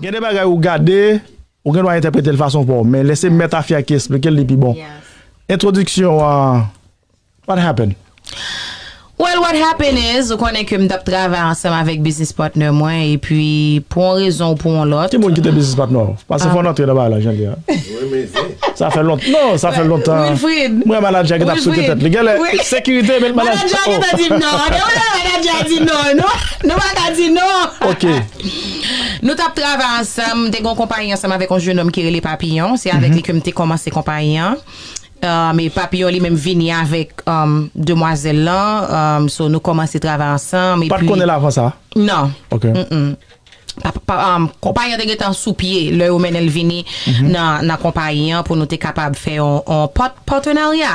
Gen de bagay ou gade, ou gen dwa entèprete l fason pa w, men lè se mèt Afya ki esplike l li pi bon. Entwodiksyon an, what happened? Well, what happened is, ou konnen ke m t ap travay ansanm avèk biznis patnè mwen, epi pou yon rezon ou pou yon lòt. Ki moun ki te biznis patnè w? Paske fò w antre nan bagay la jan l ye a. renmen zen. Sa fè lontan non sa fè lontan mwen manadja ki tap sote tèt li genlè sekirite met manadja oh. Manadja gentan di non depi lè manadja di non nou paka di non. Nou tap travay ansanm m te gon konpayi ansanm avèk yon jenòm ki rele Papillon se avèk li ke m te kòmanse konpayi an e Papillon li menm vini avèk demwazèl lan so nou kòmanse travay ansanm epi. Ou pat konnen l avan sa? Non. Konpayi an te gentan sou pye lè yo mennen l vini nan konpayi an pou nou te kapab fè yon patenarya.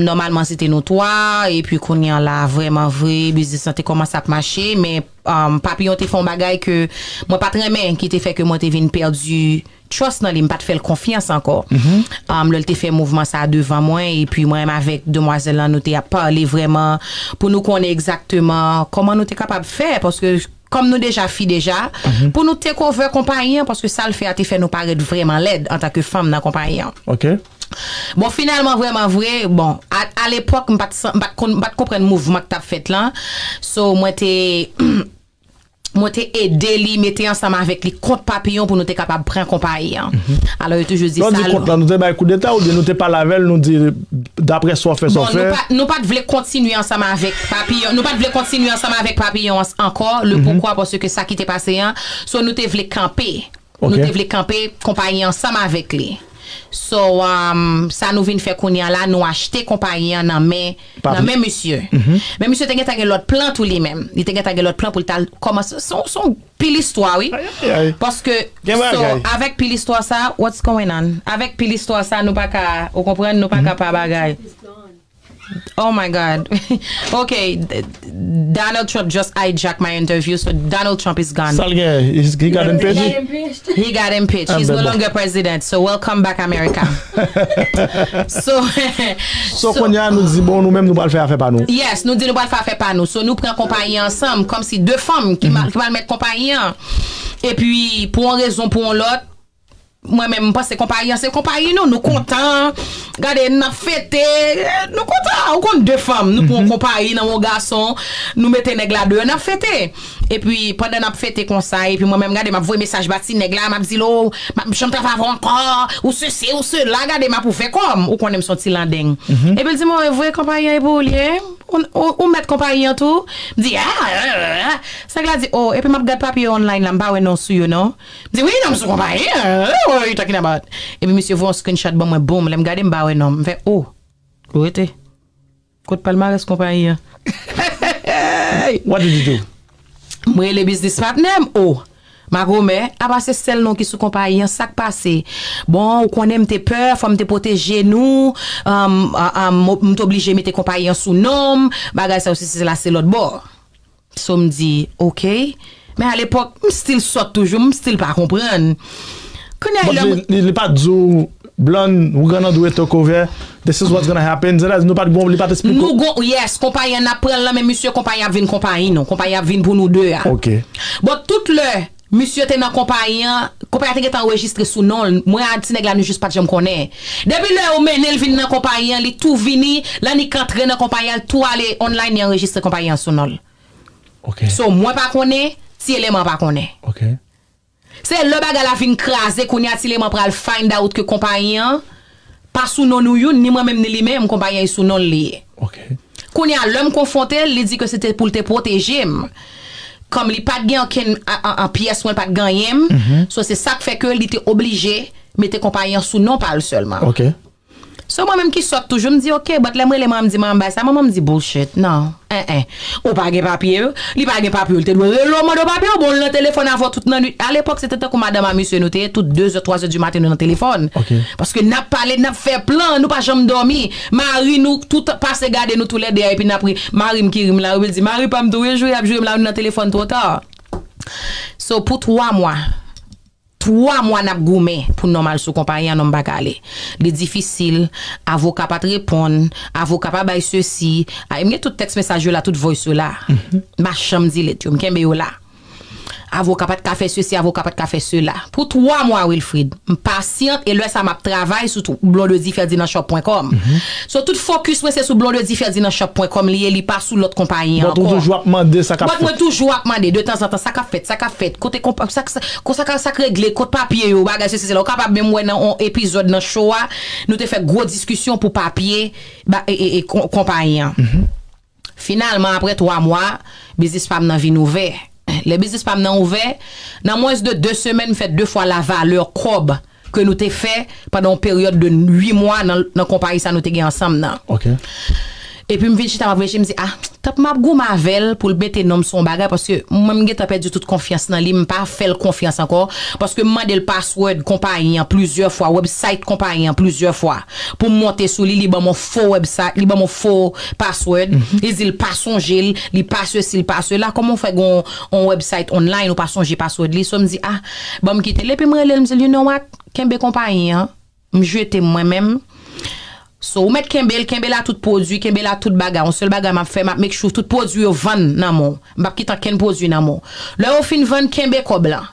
Nòmalman se te nou twa, epi kounye an la vrèman vre biznis lan te kòmanse ap mache men Papiyon te fè yon bagay ke mwen pa t renmen ki te fè ke mwen te vin pèdi trust nan li, m pa t fè l konfyans ankò. Lè l te fè mouvman sa a devan mwen, epi mwen menm avèk demwazèl lan nou te ap pale vrèman pou nou konnen egzakteman kòman nou te kapab fè, paske kòm nou deja fi deja, pou nou take over konpayi an, paske sa l fè a te fè nou parèt vrèman lèd antanke fanm nan konpayi an. Bon, finalman, vrèman vre, bon, alepòk, m pa t konprann mouvman k t ap fèt lan, so mwen te. Mwen te ede li mete ansanm avèk li kont Papillon pou nou te kapab pran konpayi an. Alò yo toujou di sa. Lè w di kont lan, nou te bay koudeta oubyen nou te pale avè l, nou di daprè sa w fè, sa w fè? Bon, nou pa t vle kontinye ansanm avèk Papillon, nou pa t vle kontinye ansanm avèk Papillon ankò, lepoukwa, paske sa ki te pase an, so nou te vle kanpe. Nou te vle kanpe konpayi ansanm avèk li. So, sa nou vin fè kounye a la, nou achte konpayi an nan men nan men misye. Men misye te gentan gen lòt plan tou li menm. Li te gentan gen lòt plan pou l t al kòmanse. Se yon pil istwa wi. Paske, so, avèk pil istwa sa, what's going on? Avèk pil istwa sa nou pa ka, ou konprann, nou pa ka pa bagay. Oh my God ok Donald Trump just hijack my interview so Donald Trump is gone. Sal gen he got impeached? He got impeached he's no longer president so welcome back America so So konnya nou di bon nou menm nou pral fè afè pa nou. Yes nou di nou pral fè afè pa nou so nou pran konpayi ansanm kòmsi 2 fanm ki pral mèt konpayi an epi pou yon rezon pou yon lòt Mwen menm m panse konpayi an se konpayi nou, nou kontan, gade n ap fete, nou kontan, ou konn de fanm, nou pran yon konpayi nan men yon gason, nou mete nèg la deyò n ap fete. Epi pandan n ap fete konsa, epi mwen menm gade m ap voye mesaj ba ti nèg la, m ap di l o, m ap janm travay avè w ankò, ou sesi, ou sela, gade m ap ouvè kò m, ou konnen m se yon ti landeng. Epi l di m o e vre konpayi an e pou ou l ye? Ou mèt konpayi an tou? M di a, sa nèg la di o, epi m ap gad papye yo online la m pa wè non w sou yo non. M di wi nonm sou konpayi an What are you talking about? Epi misye voye yon screenshot ban mwen boom lè m gade m pa wè non m fè oh Ou rete Kot palmarès konpayi an Hey What did you do? M rele biznis patnè m oh Makomè Apa se sèl non ki sou konpayi an Sak pase Bon ou konnen m te pè fò m te pwoteje nou Umm umm M t oblije mete konpayi an sou non m Bagay sa yo sesi sela se lòtbò. So m di, ok. Men a lepòk, m stil sòt toujou, m stil pa konprann. Kounya e lè m. Bon, li pa t di w, Blan, we're gonna do it talk over, this is what's gonna happen, sètadi nou pa t gon, li pa t esplike w. Nou gon, yes, konpayi an n ap pran l lan men misye, konpayi an ap vin konpayi nou, konpayi an ap vin pou nou de a. Ok. Bon, tout lè Misye te nan konpayi an, konpayi a te gentan anrejistre sou non l, mwen a ti nèg la nou jis pat janm konnen. Depi lè yo mennen l vin nan konpayi an li tou vini, lè annik antre nan konpayi a l tou ale online li anrejistre konpayi an sou non l. So mwen pa konnen, ti eleman an pa konnen. Se lè bagay la vin kraze kounye a ti eleman pral find out ke konpayi an. Pa sou non nou youn, ni mwen menm ni li menm, konpayèy sou non l li ye. Kounye a, lè m konfwonte l, li di ke se te pou l te pwoteje m. Kòm li pa t gen ankenn pyès mwen pa t ganyen m, so se sa k fè ke li te oblije mete konpayi an sou non pa l sèlman. So mwen menm ki sòt toujou, m di ok, but lè m rele manman m di manman m bay sa, manman m di bullshit, non, en en. Ou pa gen papye yo? Li pa gen papye yo, li te dwe rele w mande w papye yo, bon l nan telefòn avè w tout nan nwit. Alepòk se te tankou madanm a mesye nou te ye, tout dezè, twazè di maten nou nan telefòn. Paske n ap pale, n ap fè plan, nou pa janm dòmi. Mari nou tout pase gade nou toulède a epi n ap ri. Mari m ki ri m la wi, li di, mari pa m tou wi, jouw y ap joure m la wi, nou nan telefòn twò ta. So pou twa mwa. 3 mwa nap goumen pou nonm al sou konpayi an nonm pa ka ale. Li difisil, avoka pat reponn, avoka pa bay sesi, a e m gen tout tèks mesaj yo la, tout voice yo la. M pa janm delete yo, m kenbe yo la. Avoka pat ka fè sesi, avoka pat ka fè sela. Pou 3 mwa Wilfrid, m pasyant e lè sa map travay sou blondediferdinandshop.com. So tout fokis mwen se sou blondediferdinandshop.com li ye li pa sou lòt konpayi ankò. But ou toujou ap mande sa kap fèt. But mwen toujou ap mande detanzantan sa kap fèt, sa kap fèt, kote konpa, sa, Konsa ka sak regle kot papye yo bagay sesi sela ou kapab menm wè nan on epizòd nan show a nou te fè gwo diskisyon pou papye e konpayi an finalman aprè 3 mwa biznis pam nan vin ouvè lè biznis pam nan ouvè nan mwens de 2 semèn m fè 2 fwa la valè kòb ke nou te fè pandan yon peryòd de 8 mwa nan nan konpayi sa nou te gen ansanm nan. Ok. Epi m vin chita m ap reflechi m di ah tank m ap goumen avè l pou l mete non m sou yon bagay paske mwen m gentan pèdi tout konfyans nan li m pa fè l konfyans ankò paske m mande l password konpayi an plizyè fwa website konpayi an plizyè fwa pou m monte sou li li ban m yon fo website li ban m yon fo password li di l pa sonje l li pa sesi li pa sela kòman w fè gen yon website online ou pa sonje password li so m di ah Bon m kite l epi m rele l m di l you know what, kenbe konpayi an, m jete m mwen menm, so ou mèt kenbe l, kenbe la tout pwodui, kenbe la tout bagay, on sèl bagay m ap fè m ap make sure tout pwodui yo vann nan men w, m p ap kite ankenn pwodui nan men w. Lè yo fin vann, kenbe kòb lan.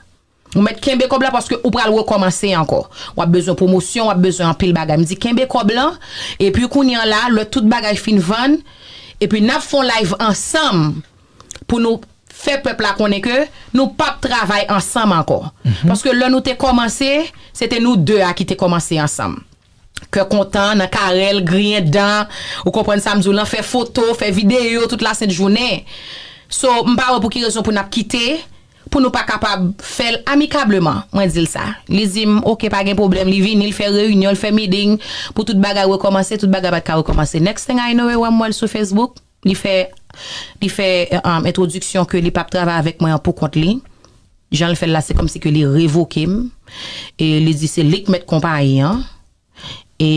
Ou mèt kenbe kòb la paske ou pral rekòmanse ankò. W ap bezwen pwomosyon, w ap bezwen anpil bagay. M di kenbe kòb lan, epi kounye an la, lè tout bagay fin vann, epi n ap fè on live ansanm, pou nou fè pèp la konnen ke nou pap travay ansanm ankò. Paske lè nou te kòmanse, se te nou 2 a ki te kòmanse ansanm. Kè kontan, nan karèl, griyen dan, ou konprann sa m di w lan, fè foto, fè videyo tout lasent jounen. So, m pa wè pou ki rezon pou n ap kite, pou nou pa kapab fè l amikableman. Mwen di l sa. Li di m, ok, pa gen pwoblèm. Li vini, l fè reyinyon, l fè meeting pou tout bagay rekòmanse, tout bagay pa t ka rekòmanse. Next thing I know, e wè m wè l sou Facebook. Li fè li fè entwodiksyon ke li pap travay avèk mwen an poukont li. Jan l fè l la se kòmsi ke li revoke m. E li di se li k mèt konpayi an. E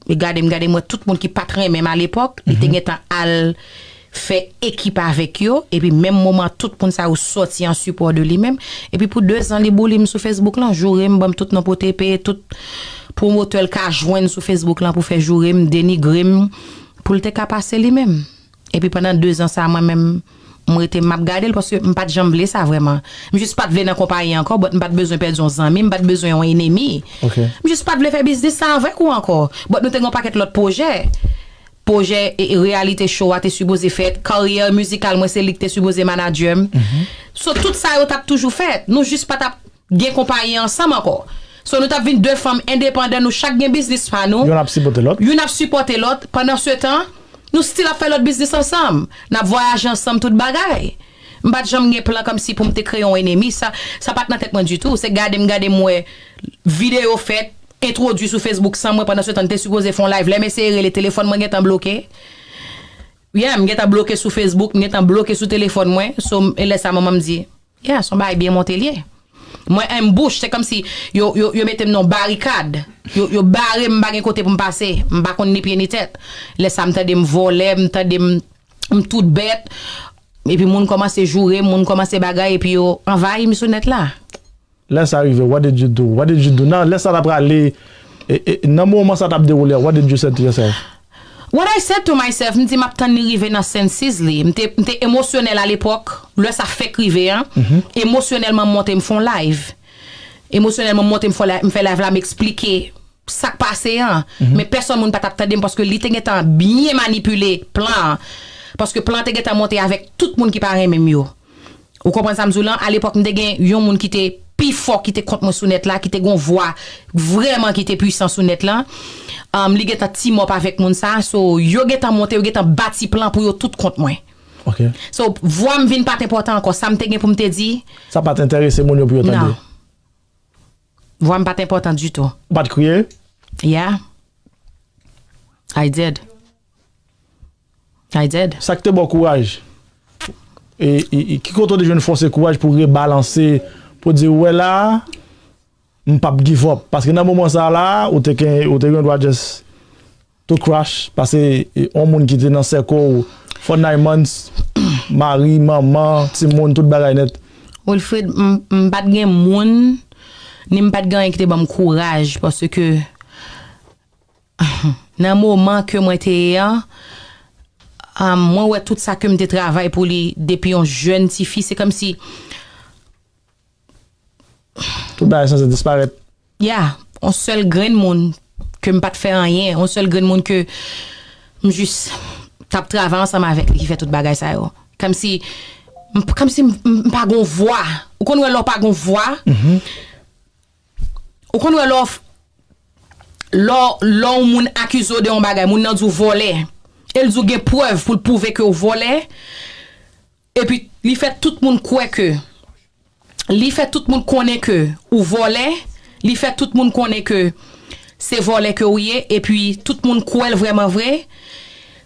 li gade m gade m wè tout moun ki pat renmen m alepòk, li te gentan al fè ekip avèk yo. Epi menm moman tout moun sa yo sòti an sipò de li menm. Epi pou dezan li bouliy m sou Facebook lan, joure m, ban m tout non potepe, tout pwomotè l ka jwenn sou Facebook lan pou fè joure m, denigre m. pou l te ka pase li menm. Epi pandan dezan sa a mwen menm m rete m ap gade l paske m pa t janm vle sa vrèman. M jis pa t vle nan konpayi ankò bòt m pa t bezwen pèdi yon zanmi, m pa t bezwen yon enemi. M jis pa t vle fè biznis sa avèk ou ankò. Bòt nou te gen yon pakèt lòt pwojè. Pwojè reyalite cho a te sipoze fèt. Karyè mizikal mwen se li ki te sipoze manadjè m. So tout sa yo t ap toujou fèt. Nou jis pa t ap. gen konpayi ansanm ankò so nou tap vin 2 fanm endepandan nou chak gen biznis pa nou Youn ap sipote lòt. youn ap sipòte lòt pandan se tan nou stil ap fè lòt biznis ansanm nap vwayaje ansanm tout bagay m pat janm gen plan kòmsi poum te kreye yon enemi sa sa pat nan tèt mwen ditou se gadem gadem wè video fèt entwodwi sou Facebook san mwen pandan se tan n te sipoze fon live lèm eseye rele telefòn mwen gentan bloke yeah m gentan bloke sou Facebook m gentan bloke sou telefòn mwen so m e lè sa manmanm di. Yeah son bagay byen monte liye. Mwen enbouche se komsi yo metem nan yon barikad yo barem mpa gen kote poum pase mpa konn ni pye ni tèt lè sa mtandem vole mtandem mtout bèt epi moun komanse jourem moun komanse bagay epi yo anvayim sou nèt la. Lè sa rive what did you do what did you do nan lè sa ta prale nan moman sa tap dewoule a what did you said to yourself? What I said to myself m di map tann li rive nan senses li, m te m te emosyonèl a lepòk, lè sa fèk rive an, emosyonèlman m monte m fon live, emosyonèlman m monte m fon live, m fè live la m eksplike sak pase an, men pèsòn moun pa tap tande m paske li te gentan byen manipile plan an, paske plan an te gentan monte avèk tout moun ki pa renmen m yo. Ou konprann sa m di w lan? Alepòk m te gen yon moun ki te pi fò ki te kont mwen sou nèt la, ki te gen yon vwa vrèman ki te pwisan sou nèt la. Li gen tan team up avèk moun sa. So, yo gen tan monte, yo gen tan bati plan pou yo tout kont mwen. So, vwa m vin pa t enpòtan ankò. Sa m te gen pou m te di. Sa pa t enterese moun yo pou yo tande. Non. Vwa m pa t enpòtan ditou. Ou pa t kriye? Yeah. I did. I did. Sa k te ba w kouraj? E ki kote w te jwenn fòs e kouraj pou w rebalanse, pou w di ou wè la a, m pap give up? Paske nan moman sa a la a, ou te gen, ou te gen dwa just to crash, pase yon moun ki te nan sèko w for nine months, mari, manman, timoun, tout bagay nèt. Wilfrid, m pat gen moun, ni m pat gen anyen ki te ban m kouraj, paske, Nan moman ke mwen te ye an, mwen wè tout sa ke m te travay pou li depi yon jèn ti fi, se kòmsi. Tout bagay sanse disparèt. Ya, yon sèl grenn moun ke m pa t fè anyen, yon sèl grenn moun ke m jis t ap travay ansanm avèk li ki fè tout bagay sa yo. Kòmsi, kòmsi m pa gen yon vwa. Ou konn wè lè w pa gen yon vwa? Ou konn wè lè w lè w lè yon moun akize w de yon bagay moun nan di w vòlè e l di w gen prèv pou l pwouve ke w vòlè epi li fè tout moun kwè ke li fè tout moun konnen ke ou vòlè li fè tout moun konnen ke se vòlè ke ou ye epi tout moun kwè l vrèman vre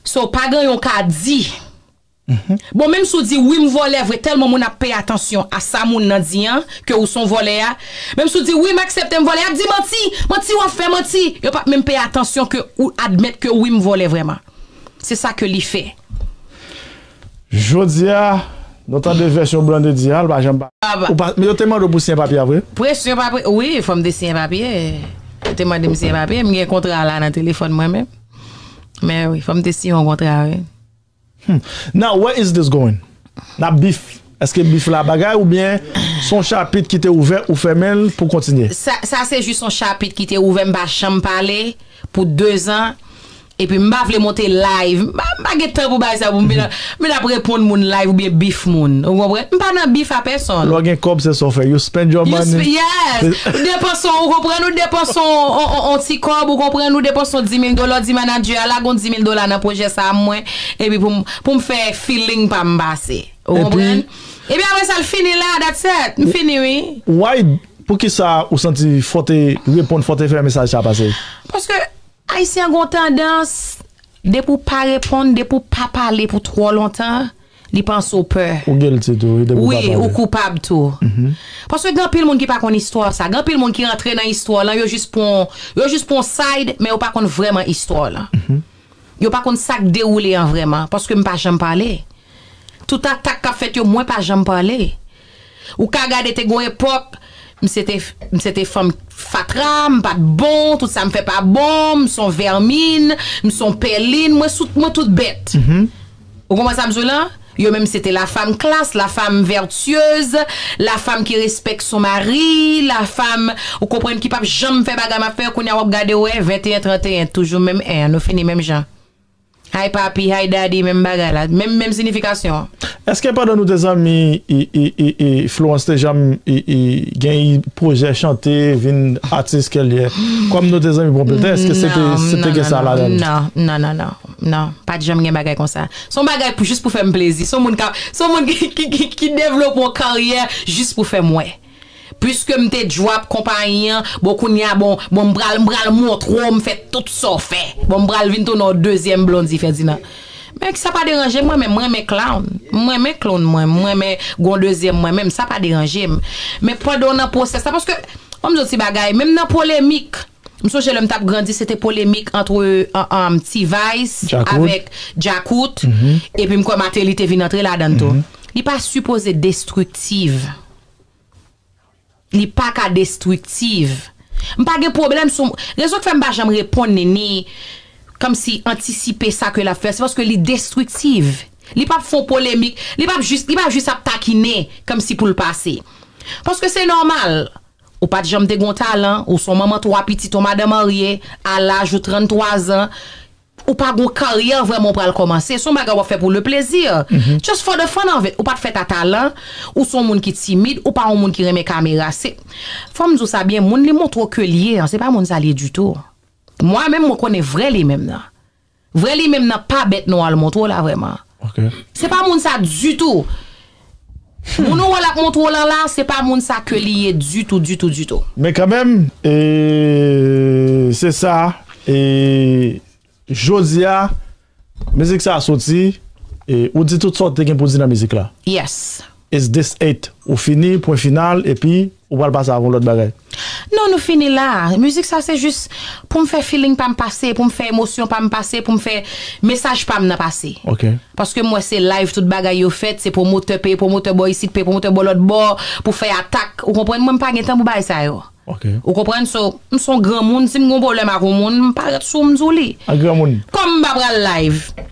so pa gen yon ka di. Bon menm si w di wi m vòlè vre tèlman moun ap peye atansyon a sa moun nan di an ke ou son vòlè a menm si w di wi m aksepte m vòlè yap di manti manti wap fè manti yo pap menm peye atansyon ke ou admèt ke wi m vòlè vrèman se sa ke li fè. Jodi a Nou tande vèsyon Blandedy a l pa janm pale ou pa men yo te mande w pou siyen papye a vre? Presyon pa presyon wi fòm te siyen papye yo te mande m siyen papye m gen kontra la nan telefòn mwen menm men wi fòm te siyen yon kontra wi. Humm now where is this going Nap beef Eske beef la bagay oubyen son chapit ki te ouvè ou fèmenl pou kontinye? Sa se jis yon chapit ki te ouvè m pa janm pale pou 2 zan epi m pa vle monte live m pa gen tan pou bagay sa pou m vin ap reponn moun live oubyen beef moun ou konprann m pa nan beef a pèsonn. Lè w gen kòb se sa w fè you spend your money. Yes ou depanse w konprann ou depanse w on ti kòb ou konprann ou depanse w 10000 dola w di manager a. Ala gon dimil dola nan pwojè sa a mwen epi pou m pou m fè feeling pa m pase. Ou konprann? Epi apre sa l fini la, that's it. M fini wi. Why Poukisa ou santi fò w te reponn fò w te fè mesaj sa a pase? Paske Ayisyen an gen yon tandans depi w pa reponn, depi w pa pale pou twò lontan. Li panse w pè. Ou guilty tou wi depi w pa pale. Wi, ou koupab tou. Paske gen anpil moun ki pa konn istwa w sa. Gen anpil moun ki rantre nan istwa w lan, yo jis pran w, yo jis pran w side, men yo pa konn vrèman istwa w lan. Yo pa konn sa k dewoule an vrèman. Paske m pa janm pale. Tout atak k ap fèt yo, mwen pa janm pale. Ou ka gade te gon epòk misye te misye te fanm fatra, m pat bon, tout sa m fè pa bon, m s on vèmin, m s on pèlin, mwen sou mwen tout bèt. Ou konprann sa m di w lan? Yo menm se te la fam klas, la fam vètyez, la fam ki respèk son mari, la fam ou konprann ki pap janm fè bagay m ap fè, kounye a w ap gade w wè 21, 31 toujou menm 1 an, nou fini menm jan. Hi papi, hi daddy menm bagay la, menm menm sinifikasyon an. Eske pandan nou te zanmi Florence te janm gen pwojè chante vin atis kel ye kom nou te zanmi pwopletan eske se te gen sa ladann? Non non non non pat janm gen bagay konsa son bagay pou jis pou fèm plezi son moun ki devlope yon karyè jis pou fèm wè. Pwiske m te djwap konpayi an, bon kounye a bon, bon m pral, m pral montre w m fè tout sa w fè. Bon m pral vin tounen w dezyèm Blondie Ferdinand. Men sa pa deranje mwen menm, m renmen clown. M renmen clown mwen, m renmen gon dezyèm mwen menm, sa pa deranje m. Men pandan w nan pwosès la, paske, an m di w ti bagay, menm nan polemik. M sonje lè m t ap grandi se te polemik antre T-Vice avèk Djakout epi m kwè Martelly te vin antre ladan l tou. Li pa sipoze destriktiv. Li pa ka destriktiv. M pa gen pwoblèm sou rezon k fè m pa janm reponn li ni kòmsi antisipe sa ke l ap fè se paske li destriktiv. Li p ap fè yon polemik, li p ap jis li p ap jis ap takinen kòmsi pou l pase. Paske se nòmal Ou pat janm te gon talan, ou son manman 3 pitit on madan marye, a laj ou 33 zan, ou pa gon karyè vrèman ou pral kòmanse, son bagay wap fè pou le plaisir, just for the fun of it, ou pat fèt a talan, ou son moun ki timid, ou pa on moun ki renmen kamera, se, fòm di w sa byen, moun li montre w ke l ye an, se pa moun sa l ye ditou. Mwa menm mwen konnen vrè li menm nan. Vrè li menm nan pa bèt nou al montro la vrèman se pa moun sa ditou moun ou wè lap montro lan la se pa moun sa ke li ye ditou ditou ditou. Men kanmenm e se sa e jodia mizik sa soti e ou di tout sa ou te gen pou di nan mizik la. Yes. Is this it? Ou fini, pwen final, epi ou pral pase avon lòt bagay? Non, nou fini la. Mizik sa se jis pou m fè feeling pa m pase, pou m fè emosyon pa m pase, pou m fè mesaj pa m nan pase. Ok. Paske m wè se live tout bagay yo fèt, se pwomotè peye pwomotè bò isit, peye pwomotè bò lòt bò, pou fè atak. Ou konprann mwen, m pa gen tan pou bagay sa yo. Ok. Ou konprann? So, m son granmoun, si m gon pwoblèm ak on moun, m parèt sou ou m di w li. An granmoun. Kòm m pa pral live.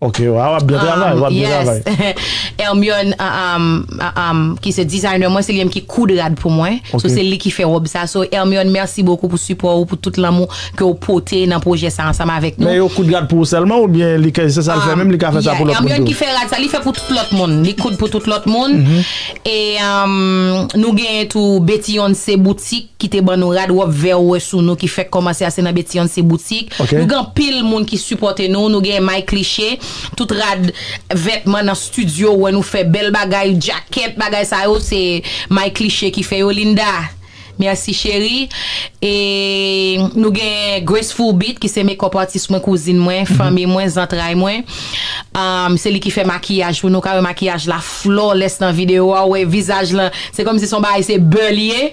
Ok wa wap byen travay wap byen travay. Hermione ki se designer mwen se li menm ki koud rad pou mwen so se li ki fè robe sa so Hermione merci beaucoup pou support ou pou tout lanmou ke ou pote nan projè sa ansanm avèk nou. Men yo koud rad pou ou sèlman oubyen li ke se sal fè menm li ka fè sa pou lòt moun tou? Hermione ki fè rad sa li fè pou tout lòt moun li koud pou tout lòt moun e nou genyen tou Betty Once boutik. ki te ban nou rad wòb vè ou wè sou nou ki fèk kòmanse a se nan Betiyonn se boutik nou gen anpil moun ki sipòte nou nou gen may kliche tout rad vètman nan studio ou wè nou fè bèl bagay djakèt bagay sa yo se may kliche ki fè yo Linda merci chérie e nou gen Graceful Beat ki se mekòp atis mwen kouzin mwen fanmi mwen zantray mwen se li ki fè makiyaj pou nou ka wè makiyaj la. Flawless nan video a ou wè vizaj lan se kòmsi son bagay se beur li ye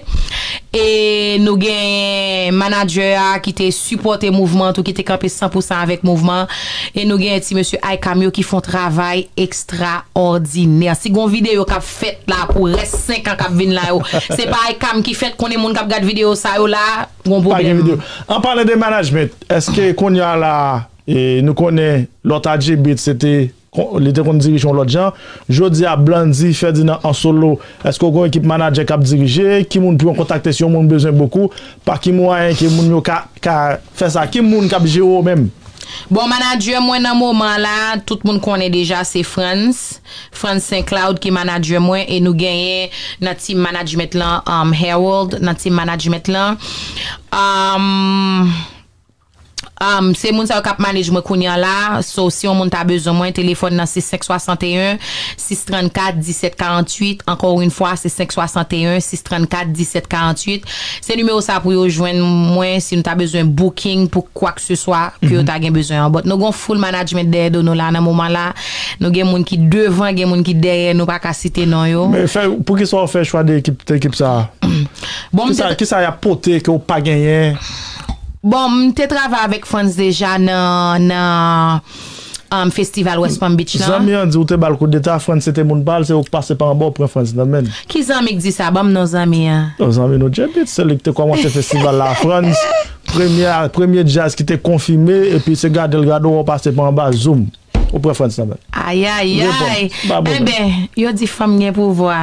e nou genyen manager a ki te sipòte mouvman an tou ki te kanpe san pou san avèk mouvman an e nou genyen ti mesye ICAM yo ki fon travay ekstraòdinè si gon video kap fèt la pou rès 5 an kap vin la yo se pa ICAM ki fèt konnen moun kap gad video sa yo la gon pwoblèm. An palan de management eske kounya la nou konnen lòt adjebit se te. Li te konn dirije yon lòt jan. Jodi a, Blandy Ferdinand an solo, èske w gen yon ekip manadjè k ap dirije? Ki moun pou yon kontakte si yon moun bezwen bokou? Pa ki mwayen ke moun yo ka fè sa? Ki moun k ap jere w menm? Bon, manadjè mwen nan moman an la, tout moun konnen deja se Frantz, Frantz Saint Cloud ki manadjè mwen e nou genyen nan team management lan Harold nan team management lan. Se moun sa yo kap manage mwen kounye an la, so si yon moun ta bezwen mwen, telefòn nan se 561 634 17 48, encore une fois se 561 634 17 48, se nimewo sa pou yo jwenn mwen si nou ta bezwen booking pou kwakseswa ke yo ta gen bezwen an, but nou gen yon full management dèyè do nou la nan moman la, nou gen moun ki devan gen moun ki dèyè nou pa ka site non yo. Men fè, poukisa ou fè chwa de ekip sa a? Bon m te. Kisa yap pote ke ou pa genyen? Bon, m te travay avèk Frantz deja nan nan festival West Palm Beach lan. Zanmi an di ou te ba l koudeta, Frantz se te moun pa l, se ou k pase pa anba ou pran Frantz nan men l. Ki zanmi k di sa? Ban m non zanmi an. Non, zanmi nou Djebit, se li k te kòmanse festival la a Frantz, premye a, premye djaz ki te konfime, epi se gade l gade ou wè ou pase pa anba, zoom, ou pran Frantz nan men l. Ayayayy! Reponn, ba m bonè. Enben, yo di fanm gen pouvwa.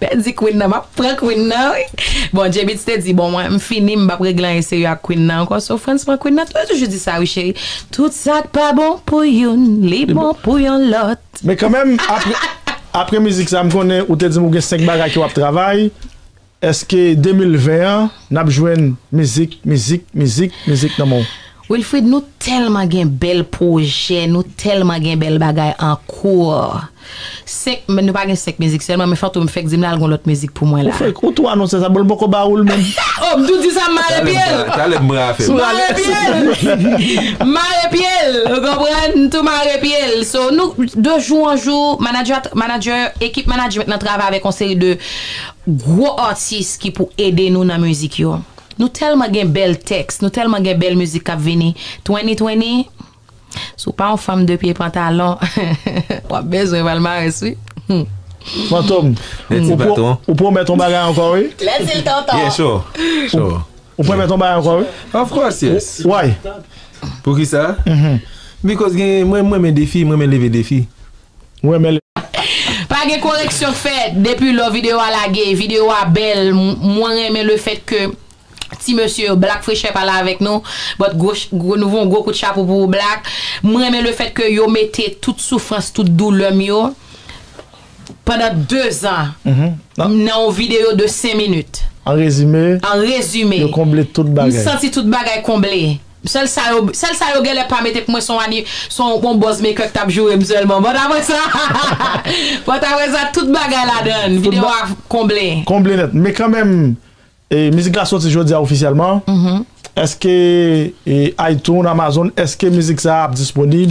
Pèdi Queen nan map pran Queen nan wi bon Djebeats te di bon mwen m fini m pap regle anyen serye ak Queen nan ankò so Frantz pran Queen nan tou yo toujou di sa wi cheri tout sak pa bon pou youn li bon pou yon lòt. Men kanmenm apre apre mizik sa m konnen ou te dim ou gen 5 bagay ke wap travay eske 2020 an nap jwenn mizik mizik mizik mizik nan menw? Wilfrid nou tèlman gen bèl pwojè nou tèlman gen bèl bagay an kour 5 men nou pa gen 5 mizik sèlman men fantom fèk dim lal gon lòt mizik pou mwen Ou la. fake, ou tou anonse sa bon l poko ba ou l menm. Oh m tou di sa m mare pye l. Talè m pran afè m. M mare pye l. M mare pye l ou konprann m tou mare pye l so nou de jou an jou manager a manager ekip management lan travay avèk yon seri de gwo atis ki pou ede nou nan mizik yo. Nou tèlman gen bèl tèks, nou tèlman gen bèl mizik kap vini, Twenny Twenny si w pa yon fanm 2 pye pantalon wap bezwen palmarès wi humm. Fantom, ou pwomèt yon bagay ankò wi. Let's see tonton. Yeah sure, sure. Ou pwomèt yon bagay ankò wi. Of course yes. Why? Poukisa? Because gen, mwen renmen defi, mwen renmen leve defi. M renmen lè. Pa gen koreksyon fè depi lò video a lage video a bèl mwen renmen le fèt ke ti mesye yo black frechè pa la avèk nou but gwo nou voun gwo kout chapo pou ou black m renmen le fèt ke yo mete tout soufrans tout doulè m yo pandan 2 zan nan yon video de 5 minit an rezime yo konble tout bagay m santi tout bagay konble. Sèl sa yo sèl sa yo gèlè pa mete pou mwen son ani son on bòz mekè k tap joure m sèlman bòt aprè sa bòt aprè sa tout bagay ladann video a konble. Konble nèt men kanmenm mizik la soti jodia ofisyèlman èske Itunes, Amazon èske mizik sa ap disponib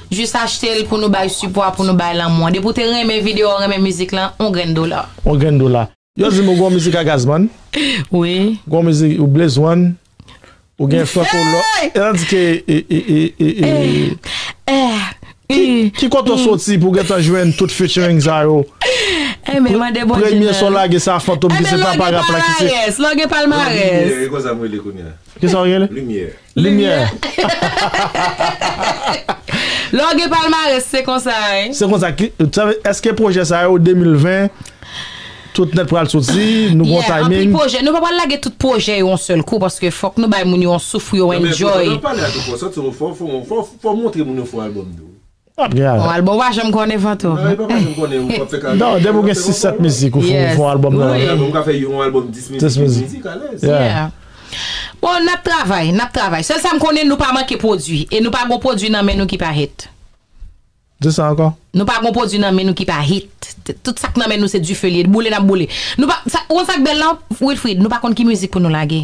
Jis achtel pou nou bay sipwa pou nou bay lanmou an depi ou te renmen video an renmen mizik lan on grenn dola. On grenn dola. Yo dim ou gon mizik a Gazman. Wi. Gon mizik ou Blaze one. Ou gen Franco Lo. Hey! Elan di ke e e e e e. Eh eh u. Ki kote ou soti pou gentan jwenn tout featuring sa yo. Eh men mande Bondye nan. Premye sa w lage sa Fantom ki se papa rap la ki se. Eh men longue palmarès longue palmarès. Limyè e konsa m rele kounya. Kisa w rele? Limyè. Limyè! Lè w gen palmarès se konsa wi. Se konsa, eske pwojè sa yo 2020 tout nèt pral soti, nou gen yon timing? Anpil pwojè, nou pa pral lage tout pwojè yo yon sèl kou paske fòk nou bay moun yo yon souf pou yo enjoy. Nan men, pandan w ap pale a tout fò, santi w fò, fò w montre moun yo fon albòm tou wi. Fon album ou pa janm konnen fantom. Nan li pa pa janm konnen ou pap fè ka. Non depi ou gen 6 7 mizik ou fon album nan. Fon album ou ka fè yon album 10 mizik 15 mizik alèz. Yeah. Bon nap travay nap travay sèl sam konnen nou pa manke pwodwi e nou pa gon pwodwi nan men nou ki pa hit. Di sa ankò. Nou pa gon pwodwi nan men nou ki pa hit. Tout sak nan men nou se dife li ye boule nap boule. Nou pa ou konn sak bèl la Wilfrid nou pa konn ki mizik pou nou lage.